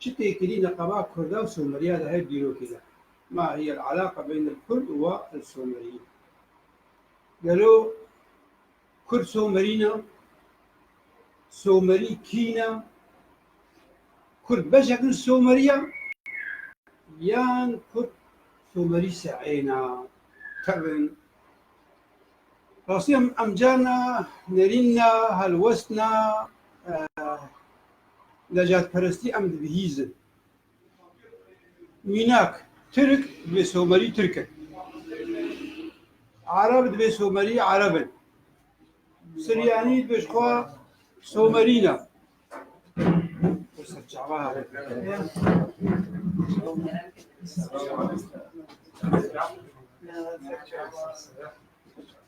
Çi tê kirî neqeba kurda û somerîya di hev dîrokê de? Ma hiye el alaqa beyn el kurd û wa el somerîyî? Gelo kurd somerî ne? Somerî kî ne? Kurd beşek in somerî ya? Yan kurd somerî se'ê ne? Tevin. Rastî em em carna nerîn ne, helwest ne, Necatperestî em dibihîzin. Mînak, Tirk divê Somerî Tirk in. Arab divê Somerî Arab in. Siryanî divê ji xwe Somerîn e.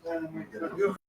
Thank you.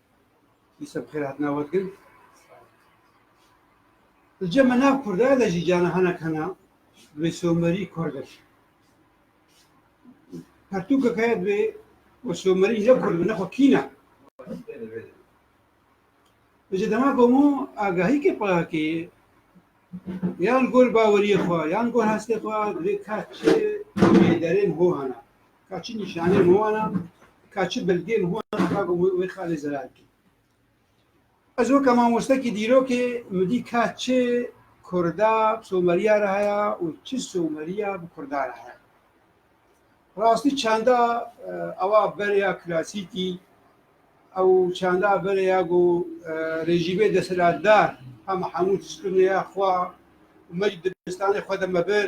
Îsa bi xêr hatina we dikin. Li cem me nav Kurd e, lê jî canan hinek hene bi Somerî Kurd e. Pertûkek heye bi we Somerî ne Kurd bi ne xwe kîn e. Li ji dema komû agahîkê payakê yan li gor baweriyê xwe yan li gor hestê xwe divê keç ê derên ho hene. ka çi nîşaneyên wan e, ka çi belgeyên wan e ka ku wê xalê zelal bike. Ez weke mamostekî dîrokê min dî ka çi kurda bi someriya re heye û çi someriya bi kurda re heye. Rastî çanda ewa bereya klasîkî ew çanda bereya ku rejîmê desthilatdar hema hemû tişt kirine ya xwe û me jî dibistanê xwe de me bir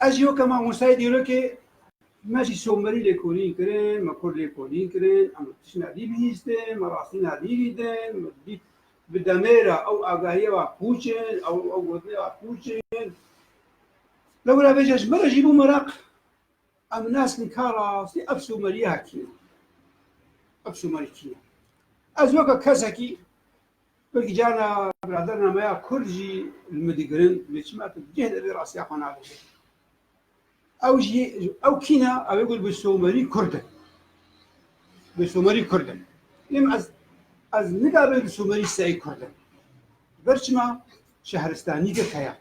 Ez jî weke mamostayê dîrokê me jî somerî lêkolîn kirin, me kurd lêkolîn kirin, em li tişt nedî bihîstin, me rastî nedî dîtin, me dît bi demê re ew agahiye ve pûç in, ew ew gotinê ve pûç in. Lewra bêje ji me re jî bû meraq, em naskin ka rastî ev somerîya kî ye, ev somerî kî ye. Ez weke kesekî Belkî carna biradernê me ya Kurd jî li min digirin lê çima tu bi cih de vê rastiya xwe nabêjî? Ew jî ew kî ne? Ew ê got bi somerî Kurd in. Bi somerî Kurd in. Lê min ez ez nikarim bi somerî sey Kurd in. Ji ber çima şehristanî girk heye.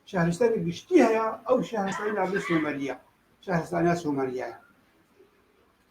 Şehristanê giştî heye, ew şehristanê navê somerî ye. Şehristanê somerî ye.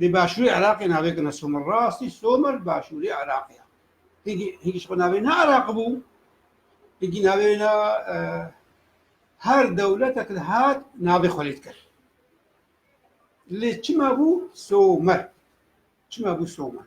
Di başûrê Iraqê navê kine Somer rastî Somer başûrê Iraqê ye. Hingî hingî ji xwe navê ne Iraq bû. Hingî navê ne her dewletek li hat navê xwe lê dikir. Lê çima bû Somer? Çima bû Somer?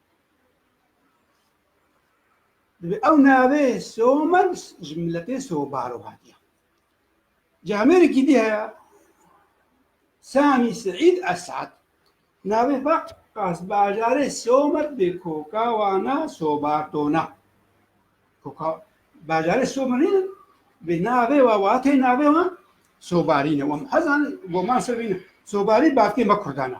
Divê ew navê Somer ji miletê Sobaro hatiye. Ji Amerîkî dî heye Samî Seîd Esad. Navê xwe qasbajarê Somer dê koka wan a Sobartona. Koka bajarê Somer nîn in, vê navê wa watê navê wan Sobarî ne. Wan hezan goman ser vîn Sobarî bavkê me Kurdan e.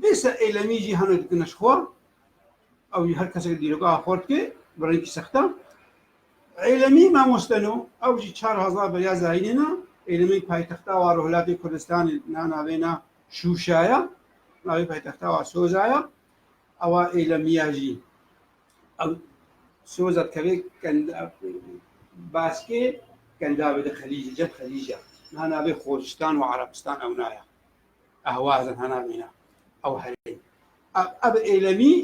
Vê ser eylemî jî heme dikine ji xwe, ew jî her kesek dîrogaha xwe dike bi rengî sextan. Eylemî mamosteno, ew jî çar hezar beriya zayînê ne, eylemê paytexta wa Rojhilatê Kurdistanê na navê ne Şuşa ye, navê paytexta wa Soza ye. Ewa eylemiya jî ew Soza dikeve kenda Baskê kendavê de Xelîc, Cem Xelîc e. Na navê Xozistan û Arabistan ew na ye. ehwazin hena mîna ew herê ev êlemî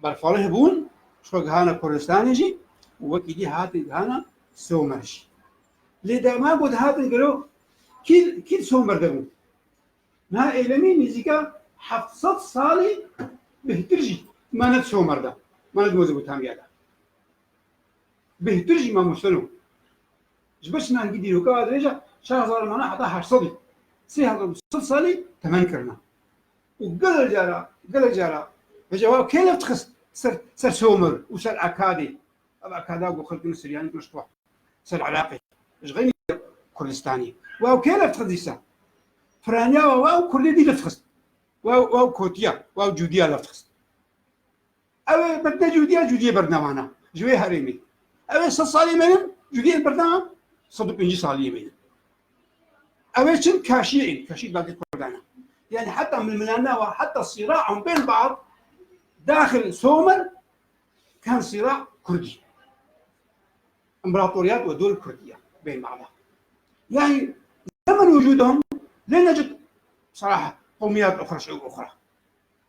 berfalih bûn şo gihana Kurdistanê jî û wekî dî hatin gihana Somer jî. Lê derman ku dihatin gelo kî kî Somer de bûn. Niha êlemî nîzîka heft sed salî bêhtir jî me ne Somer de, me ne di Mezopotamya de. Bêhtir jî me Museno. Ji ber çima hingî dîroka ve dirêja çar hezar mane heta heşt sedî, sê hezar û sed salî temen kirine û gelek cara gelek cara hêja wan kê lef dixist ser ser Somor û ser Akadê. Ev Akada ku xelkên Siryanî kuşt we ser Iraqê ji xeynî Kurdistanî wan kê lef dixist dîsa firaniya wan û Kurdê dî lef dixist wan wan kotiya wan cûdiya lef dixist. Ew ê bibne cûdiya cûdiyê berdewana ji wê herêmê. Ew ê sed salî mêrin cûdiyên berdewa sed û pêncî saliyê mêrin. Ew ê çin kaşiyê ên kaşî dadê kurdana. Yani heta milmilana ve heta sîra an bên bad daxil somer kan sîra kurdî. İmparatoriyat ve dol kurdiya bên bada. Yani zemen vücudum lê necik saraha qomiyat oxra şey oxra.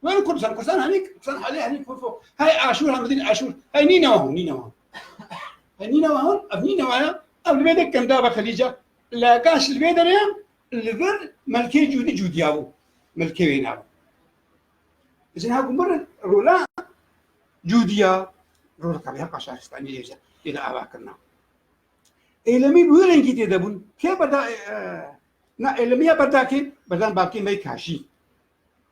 Wero Kurdistan, Kurdistan hani Kurdistan hali hani fofo. Hay Aşur hem din Aşur. Hay nî newa hon, nî newa. Hay nî newa hon, ev nî newa ya. Ev li vêdek kem dava Xelîca. La gaş li vê derê li vir melkê cûdî cûdiya bû. Melkê wê nabû. Jin ha gumbir rola cûdiya rola kabiya paşaristanî lêje. Lê de ava kirna. Eylemî bu rengî tê debûn. Kê berda na eylemiya berdakê berdan bakê mey kaşî.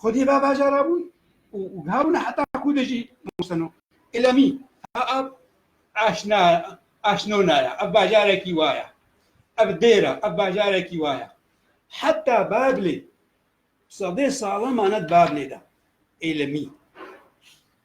Xwedî va bajara bûn û wiha bûne heta ku de jî Moseno, Îlemî, ha ev aşna aşnona ye, ev bajarekî wa ye, ev dêr e, ev bajarekî wa ye. Heta Babilê sedê salan mane di Babilê de. Îlemî.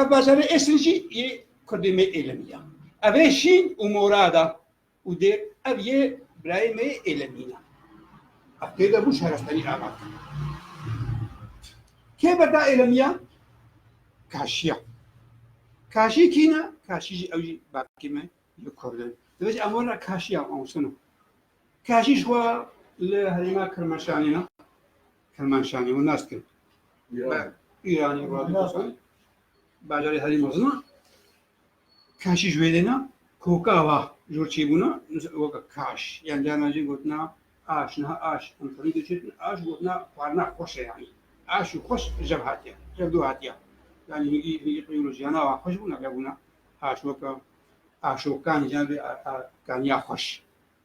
Ev bajarê eslî jî yê kurdê me Êlemî ya. Ev ê Şîn û Morad a û dê ev yê birayê me yê Êlemîn a. Ev pê de bû Şerestenî ava kir. Kê berda Êlemî ya? Kaşî ya. Kaşî kîn e? Kaşî jî ew jî bavkê me li kurd in. Divê jî em werna Kaşî ya awsina. Kaşî ji xwe li herêma Kirmaşanê ne. Kermanşanê û nas kir. Îranê Radiposan bajarê herî mezin a. Kaşî ji wê dêna koka va ji wir çêbûna weke kaş yan carna jî gotina aş niha aş em xwedî diçêtin aş gotina xwarina xweş e yanî aş û xweş jev hatiye jev dû hatiye yanî hîngî hîngî qeyolojiyana wa xweş bûna vebûna aş weke aşokan yan vê kaniya xweş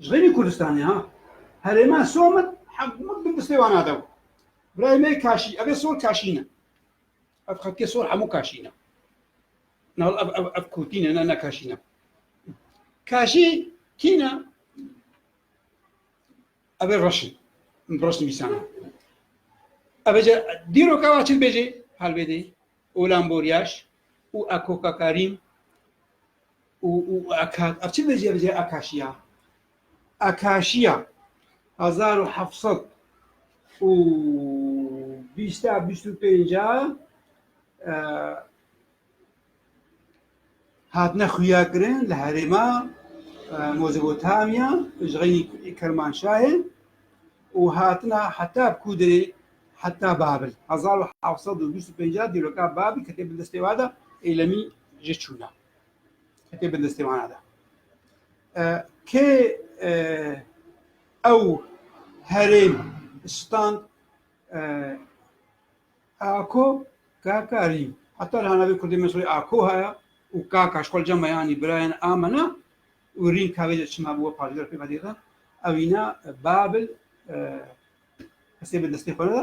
Ji xênî Kurdistanê ha. Herêma Somit hemû din distê wan ade bû. Birayê me kaşî, ev ê sor kaşî ne. Ev xelkê sor hemû kaşî ne. Na ev ev ev kûtî ne, ne ne kaşî ne. Kaşî kî ne? Ev ê reşin. Reşin mîsan. Ev ê dîro ka çil bêjê helbêdê. Olamboryaş û ekokakarin û û aka ev çi vêjî ev jî akaşîya akaşîya hezar û heft sed û bîst a bîst û pênc a hatine xuya kirin li herêma Mezopotamya ji xeynî Kermanşahê û hatina heta Kûdirê Heta Babil hezar û heft sed û bîst û pêncî dîroka Babil ke tê bi destê we de Êlemî jê çûna ke tê bi destê wana de. Kê ew herêm stand Ako Kakarî heta li hanavê Kurdê min soyê Ako heye û Kaka ji xwe cema yanî birayên a min e û rîn kavê de çima bi we parçedar pê vedê de ew îna Babil Kesê bi destê xwe re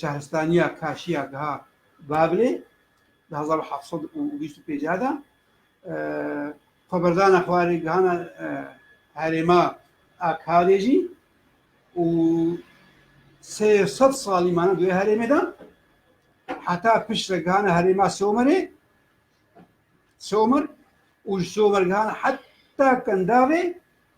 şehristaniya Kaşiya Giha Babilê di hezar û heft sed û bîst û pênceh de xweberdana xwarê gihana herêma Akadê jî û sê sed salî mane duê herêmê de heta pişt re gihana herêma Somerê Somer û ji Somer gihana heta Kendavê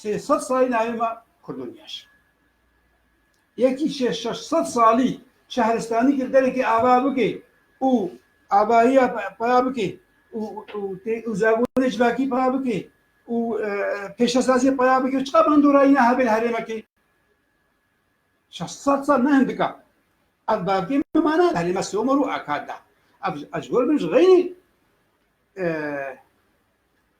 Sê sed salî navê me Kurdoniya şa. Yekî şê şeş sed salî şehristanî kir derekê ava bike û avahiya peya bike û zabûnê civakî peya bike û pêşesaziyê peya bike çiqa bi hindorayîna hevên herêmekê şeş sed sal ne hindika. Ev bavkê min mana herê me Sewmer û Akad da. Ev ez ji gor min ji xeynî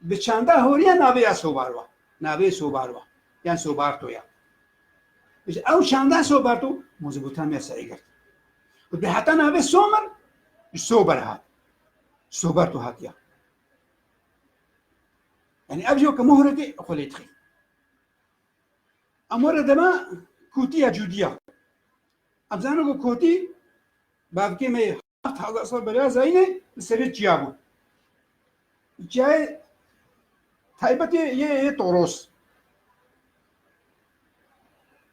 Bi çanda horiya navê ya Sobarwa, navê Sobarwa yan Sobarto ya. Ji ew çanda Sobarto Mozopotamiya serê girt. Ku dê heta navê Somer ji Sober hat. Sobarto hatiya. Yani ev jî weke mohre dê xwe lê dixî. Em were dema kûtiya cûdiya. Em zanin ku kûtî bavkê me Heft hezar sal beriya zayînê li serê çiya bû. Çiyayê taybetê yê yê Toros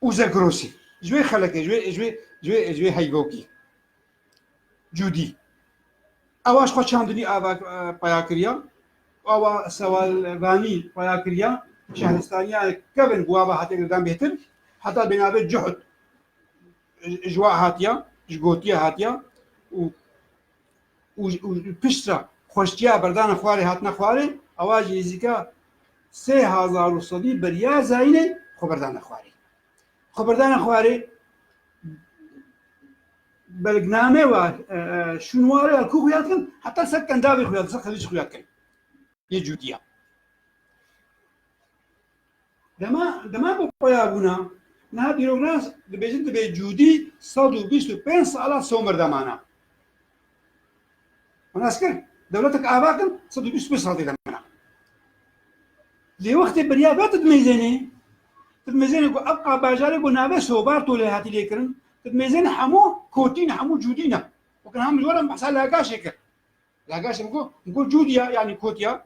û Zegrosî ji wê xelekê ji wê ji wê ji wê ji wê heybokî cûdî ewa ji xwe çandinî ava peya kiriya awa sewalvanî peya kiriya şehristaniya kevin bû ava hatê girdan bêtir heta bênavê cihut ji wa hatiya ji gotiya hatiya û û û piştra xweştiya berdana xwarê hatina xwarê ewa jî nêzîka sê hezar û sedî beriya zayînê xwe berdana xwarê xwe berdana xwarê belgname wa şûn ware ya ku xuya dikin heta ser kendavê xuya dikin xelîc xuya dikin yê cûdiya Dema ku peya bûna niha dîroknas dibêjin divê cûdî sed û bîst û pênc sala somr de mana. Min ez kir dewletek ava kin sed û bîst û pênc sal tê de mana. Lê wextê beriya ve tu dimêzenê, tu dimêzenê ku ev qabajarê ku navê sobarto lê hatî lêkirin, tu dimêzenê hemû kotî ne, hemû cûdî ne. Wek in ha min ji we re min behsa lagaşê kir. Lagaşê min got, min got cûdî ya yanî kot ya.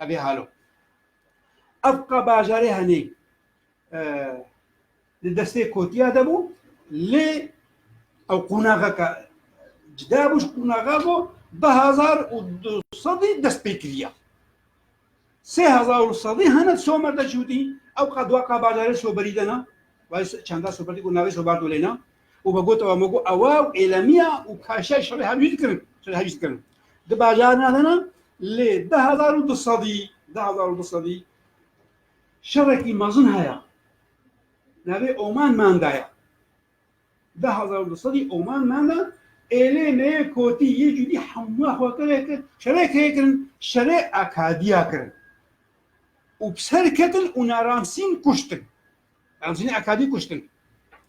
Evê halo. Ev ka bajarê henê li destê kotiya de bû lê ew qonaxeke cida bû ji qonaxa bû du hezar û du sedî dest pê kiriya. Sê hezar û sedî hene somer de jûdî ew ka dua ka bajarê soberî de na. Çanda soberî ku navê sober dolê na. û me got ew me got ew û êlemiya û kaşiya şerê hevjî dikirin şerê hevjî dikirin di bajarê ne de ne lê di hezar û du sedî di hezar û du sedî şerekî mezin heye navê Oman Manda ye di hezar û du sedî Oman Manda êlê neyê kotî yê cûdî hemû xwekirê kir şerê kê kirin şerê akadiya kirin û bi ser ketin û na Ramsîn kuştin Ramsînê akadî kuştin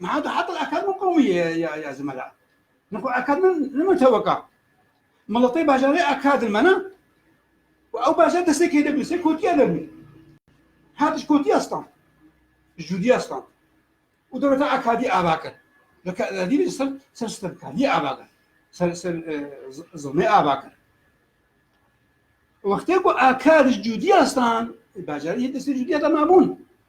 Meha da heta ekad min qewmî ye ya ya zimela. Min xwe ekad min ne min teweka. Miletê bajarê ekadin mena. Û ew bajar destê kê de bû, sê kotiya de bû. Hatiş kotiya stan. Jûdiya stan. Û dewleta ekadî ava kir. Dî li ser ser stemkariyê ava kir. Ser ser zilmê ava kir. Wextê ku ekad jûdiya stan, bajarê destê jûdiya de mabûn.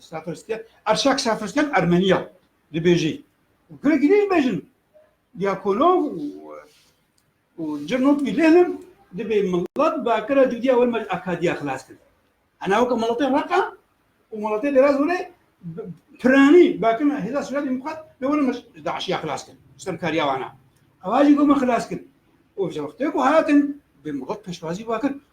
Safirstiyan, Arşak Safirstiyan Ermeniya dibêjî. Gurek ne dibêjin. Diakonov û Cirnot Vîlênim dibê milat bi akira cudiya wê me akadiya xilas kir. Hena weke milatê Reqa û milatê Dêraz were piranî bakin hêza Sûriya Demokrat bi were me ji DAIŞiya xilas kir. Stemkariya wana. Ewa jî got me xilas kir. Û ji wextê ku hatin bi milat pêşwazî vakir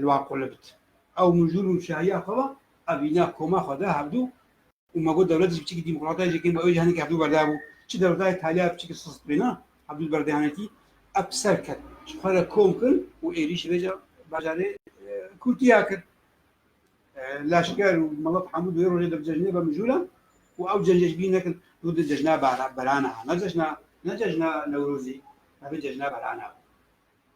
li wan qulibit. Ew mijûl û şahiya xwe ba, ev îna koma xwe da hevdû û me got dewletê ji biçîkî dîmokratayê jê kêm ba ew jî henekî hevdû berda bû. Çi dewletayê taliya biçîkî sist bê na, hevdû di berdê hene tî. Ev bi ser ket, ji xwe re kom kir û êrîşî vê bajarê Kurtiya kir. Leşker û milet hemû di wê rojê de bi cejnê ve mijûl e û ew cejnê ji bîr nekin. Dû di cejna berana, ne cejna ne cejna Newrozî, me vê cejna berana.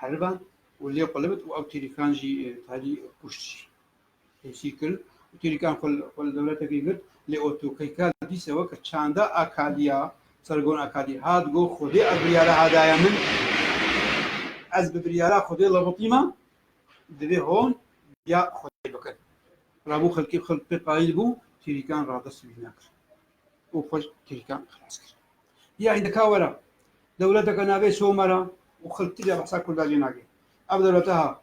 heriban û lê xwe li bit û ew têrîkan jî tarî kuşt jî hêsî kir û têrîkan xwe xwe li dewletekî girt lê otokeyka dîse weke çanda akaliya sergon akalî hat got xwedê ev biryara hadaya min ez bi biryara xwedê lewitîma divê hon ya xwedê bikin rabû xelkê xelk pê qayîl bû têrîkan radest wî nekir û xwe ji tehîkan xilas kir. Ya hîndeka we re dewleteke navê Somera û xelk ti jî behsa Kurdan jê nake. Ev dewlete ha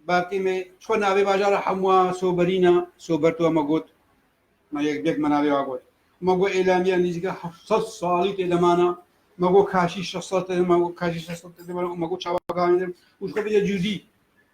Bakê me çiqo navê bajara hemwa Soberîna Soberto ma got ma yek dek ma navê wa got. Ma got Êlamiya nîzîka heft sed salî tê de mane. Ma got Kaşî şeş sed tê de mane. Kaşî şeş sed tê de mane û ma got çawa gavên din û ji xwe bêje cûdî.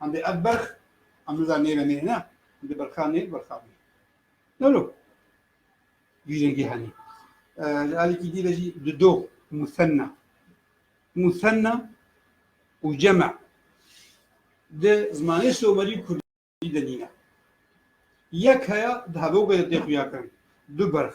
Hemdê ev berx em niza nêve nê ne hemdê berxa nê berxa nê. Nolo vî rengî henî. Li alîkî dî de jî di do musenna. Musenna û cema di zimanê somerî û kurdî de nîne. Yek heya di hevogê de tê xuya kirin. Du berx.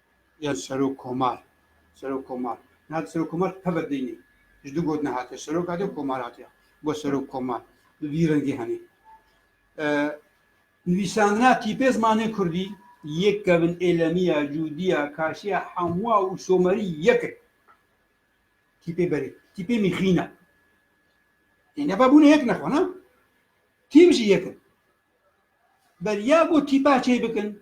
ya Serokkomar, Serokkomar, niha Serokkomar teve dînî, ji du gotinê hatiye, Serok hatiye, Komar hatiye, bo Serokkomar, bi vî rengî henê. Nivîsandina tîpê zimanê kurdî, yek kevin êlemî ya, cûdî ya, kaşî ya, hemwa û somerî yek in. Tîpê berê, tîpê mîxîn e. Ê neba bûne yek ne xwe ne? Tîp jî yek in. Ber ya ku tîpa çêbikin,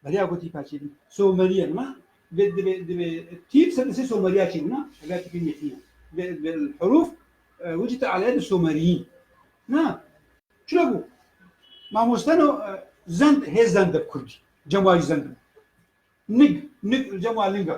Beriya ku tîpa çêbû someriye bûna divê divê divê tîp sed li sê someriya çêbûna eger tîpî metîn e divê divê herûf wicî te aleye bi someriyîn na çira bû mamoste no zend hê zend bi kurdî cem wayî zend nig nig cem wa linga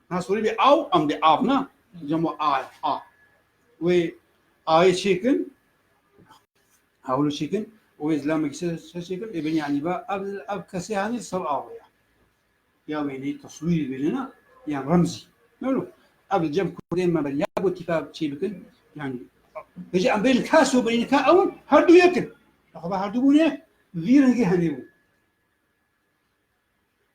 Na sorî bê aw am bê av na. Cemo a a. Wê ayê çêkin. Hawlu çêkin. Wê zilamek se çêkin. Ê beni anî ba ev ev kesê hanî ser avê ya. Ya wê nê taswîrî bêne na yan remzî. Nolo. Ev li cem kurdê me be labo tîka çê bikin. Yani Bêje em bêne kes û bêne ka ew her du yekin. Xwe her du bûne vî rengî henê bû.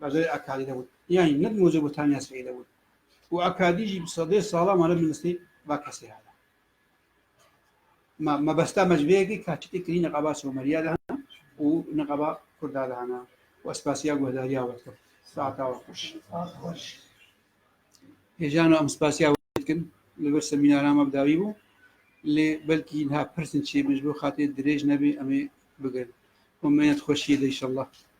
Bajarê Akadî de bûn. Yanî ne bi Mozopotamiya Sirê de bûn. Û Akadî jî bi sedê sala ma li bin destê va kesê hene. Ma mebesta me ji vê yekê ka çi tê kirî niqaba Someriya de hene û niqaba Kurda de hene. Û ez spasiya guhdariya we dikim. Saeta we xweş. Hêjano em spasiya we dikin. Li vir semînara me bi dawî bû. Lê belkî niha pirsên çê bin ji bo xatirê dirêj nebê em ê bigirin. Û mênet xweşiyê de înşellah.